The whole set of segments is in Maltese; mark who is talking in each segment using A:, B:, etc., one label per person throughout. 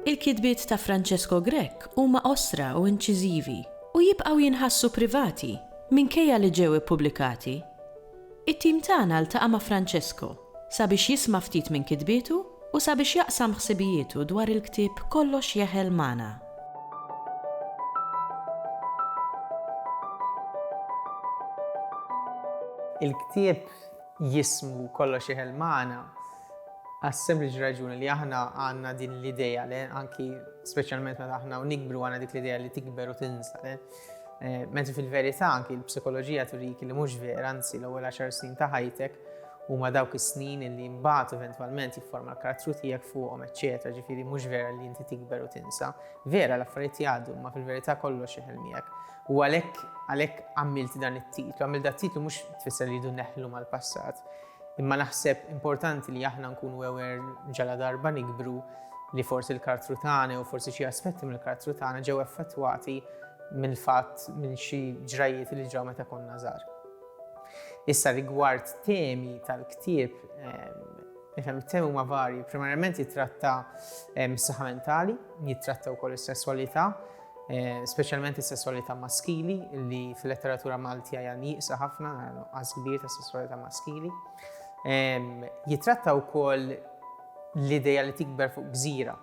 A: Il-kitbiet ta' Francesco Grech huma qosra u inċiżivi, u jibqgħu jinħassu privati minkejja li ġew ippubblikati. It-tim tagħna ltaqa' ma' Francesco. sabiex jisma' ftit minn kitbietu u sabiex jaqsam ħsibijietu dwar il-ktieb Kollox Jeħel magħna.
B: Il-ktieb jismu Kollox Jeħel magħna għas-sempliċi raġuni li aħna għandna din l-idea li anki speċjalment meta aħna u nikbru għandna dik l-idea li tikber u tinsa. Eh, Mentu fil-verità anki l-psikoloġija turik li mhux vera, anzi l-ewwel għaxar snin ta' ħajtek Huma dawk is-snin illi mbagħad eventwalment jifforma l-karattru tiegħek fuqhom eċċetera, ġifieri mhux vera li inti tikber u tinsa. Vera, l-affarijiet jgħaddu, imma fil-verità kollox jeħel miegħek. U għalhekk għalhekk għamilt dan it-titlu. Għamilt dan it-titlu mhux tfisser li rridu neħlu mal-passat, imma naħseb importanti li aħna nkunu aware ġaladarba nikbru li forsi l-karattru tagħna jew forsi xi aspetti mill-karattru tagħna ġew effettwati mill-fatt minn xi ġrajjiet li ġraw meta konna żgħar. Issa rigward temi tal-ktieb, nifhem it-temi huma varji, primarjament jitratta s-saħħa mentali, jitratta wkoll is-sesswalità, speċjalment is-sesswalità maskili li fil-letteratura Malti hija nieqsa ħafna, nuqqas kbir ta' sesswalità maskili. Jitratta wkoll l-idea li tikber fuq gżira,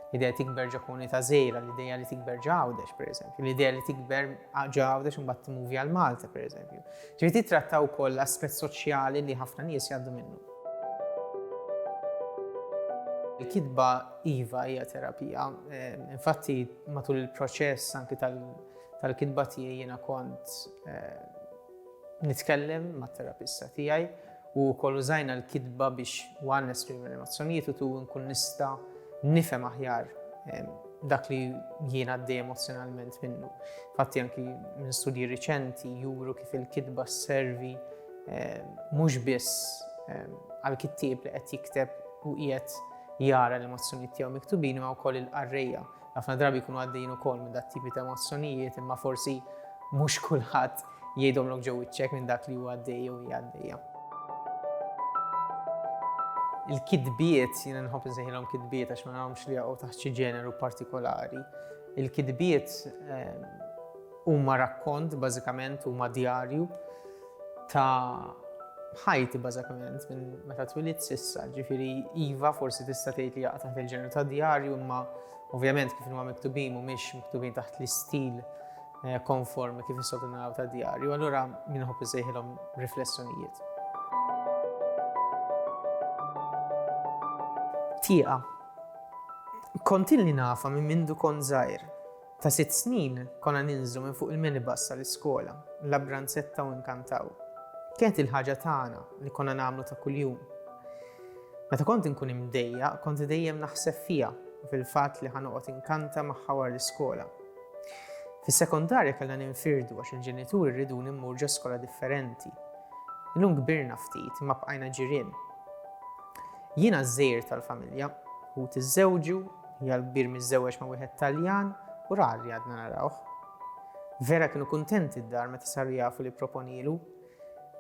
B: L-idea li tikber ġo komunità żgħira, l-idea li tikber ġo Għawdex, pereżempju, l-idea li tikber ġo Għawdex u mbagħad timuvi għal Malta, pereżempju. Ġifieri titrattaw ukoll l-aspett soċjali li ħafna nies jgħaddu minnu. Il-kitba iva hija terapija. Eh, infatti matul il-proċess anki tal-kitba tiegħi jiena kont eh, nitkellem mat-terapista tiegħi u wkoll użajna l-kitba biex one nestri l-emozzjonijiet u tu nkun nista' nifhem aħjar dak li jiena għaddej emozjonalment minnu. Fatti anki minn studji riċenti juru kif il-kitba servi eh, mhux biss eh, għal kittieb li qed jikteb u qiegħed jara l-emozzjonijiet tiegħu miktubin ma wkoll il-qarrejja Ħafna drabi jkunu għaddejjin ukoll minn dat-tipi ta' emozzjonijiet imma forsi mhux kulħadd jgħidhomlok ġo wiċċek minn dak li hu għaddej jew hija għaddejja. Il-kitbiet, jiena nħobb insejħilhom kitbiet għax ma nagħhomx li jaqgħu taħt xi ġeneru partikolari. Il-kitbiet eh, huma rakkont bażikament huma djarju ta' ħajti bażikament minn meta twilidt s'issa, ġifieri iva forsi tista' tgħid li jaqa' taħt il-ġeneru tad-djarju imma ovvjament kif huma miktubin mhumiex miktubin taħt l-istil eh, konformi kif issokru naraw tad-djarju, allura min ħobb isejħilhom riflessjonijiet. Tieqa. Kontilni nafa minn mindu kont żgħir Ta' sitt snin, konna ninżlu minn fuq il-minibus sal-iskola, l-Abranzetta u Inkantaw. Kienet il-ħaġa tagħna li konna nagħmlu ta' kuljum. Meta kont inkun imdejjaq, kont dejjem naħseb fiha u fil-fatt li ħa noqgħod inkanta magħha wara l-iskola. Fis-sekondarja kellna ninfirdu għax il-ġenituri rriduni mmur ġo skola differenti. Illum kbirna ftit imma bqajna ġirien. Jiena ż-żgħir tal-familja, ħuti żżewġu Hija l-kbir miżżewweġ ma' wieħed Taljan u rar li għadna narawh. Vera kienu kuntenti d-dar meta saru jafu li pproponielu.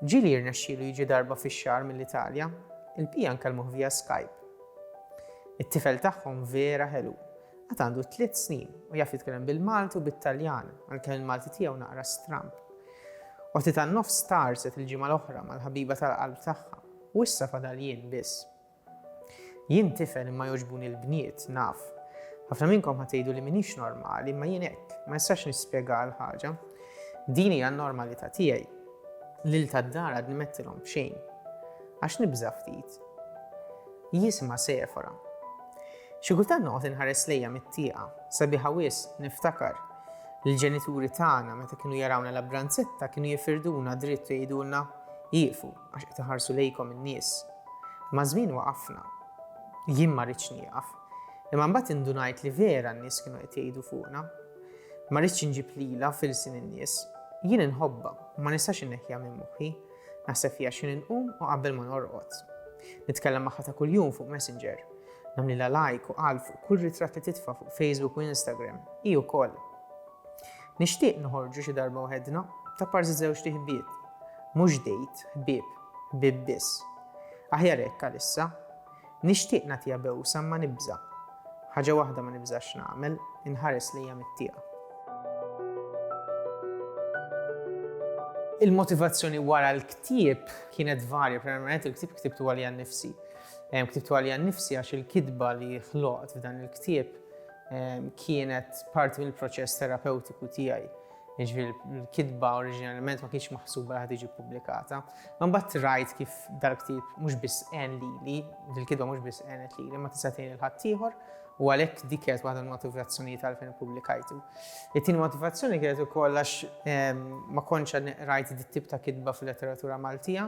B: Ġieli jirnexxielu jiġi darba fix-xahar mill-Italja, il-bqija nkellmuh via Skype. It-tifel tagħhom vera ħelu. Għad għandu tliet snin u jaf jitkellem bil-Malti u bit-Taljan, għalkemm il-Malti tiegħu naqra stramb. Oħti tan-nofs tgħarrset il-ġimgħa l-oħra mal-ħabiba tal-qalb tagħha u issa fadal jien biss. Jien tifel imma jogħġbuni l-bniet, naf. Ħafna minnkom ħa tgħidu li m'iniex normali imma jien hekk, ma nistax nispjegaha l-ħaġa. Din hija n-normalità tiegħi. Lil tad-dar għadni m'għedtilhom b'xejn. Għax nibża' ftit. Jisimha Sephora. Xi kultant noqgħod inħares lejha mit-tieqa, sabiħa wisq, niftakar. L-ġenituri tagħna meta kienu jarawna la b'ranzetta kienu jifirduna dritt u jgħidulna, Ieqfu. għax qed iħarsu lejkom in-nies. Maż-żmien waqafna. Jien ma ridtx nieqaf. Imma mbagħad indunajt li vera n-nies kienu qed jgħidu fuqna. Ma ridtx inġib lilha f'ilsien in-nies. Jien inħobbha u ma nistax inneħħiha minn moħħi. Naħseb fiha x'ħin inqum u qabel ma norqod. Nitkellem magħha ta' kuljum fuq Messenger. Nagħmlilha like u qal fuq kull ritratt li titfa' fuq Facebook u Instagram. Hi wkoll. Nixtieq noħorġu xi darba waħedna, ta' parsi żewġt iħbieb. Mhux dejt, ħbieb, ħbieb biss. Aħjar hekk għalissa. Nixtieq nagħtiha bewsa imma nibża'. Ħaġa waħda ma nibżax nagħmel, inħares lejha mit-tieqa. Il-motivazzjoni wara l-ktieb kienet varja, primarjament il-ktieb ktibtu għalija nnifsi. Ktibtu għalija nnifsi għax il-kitba li ħloqt f'dan il-ktieb kienet parti mill-proċess terapewtiku tiegħi. Jiġifieri l-kitba oriġinalment ma kienx maħsuba li ħad tiġi ppubblikata. Ma mbagħad rajt kif dal-ktieb mhux biss għen lili, dil-kitba mhux biss għenet lili, ma tista' tgħin il-ħaddieħor u għalhekk dik kienet waħda mill-motivazzjonijiet għalfejn ippubblikajtu. It-tieni motivazzjoni kienet ukoll għax ma kontx rajt dit-tip ta' kitba fil-letteratura Maltija.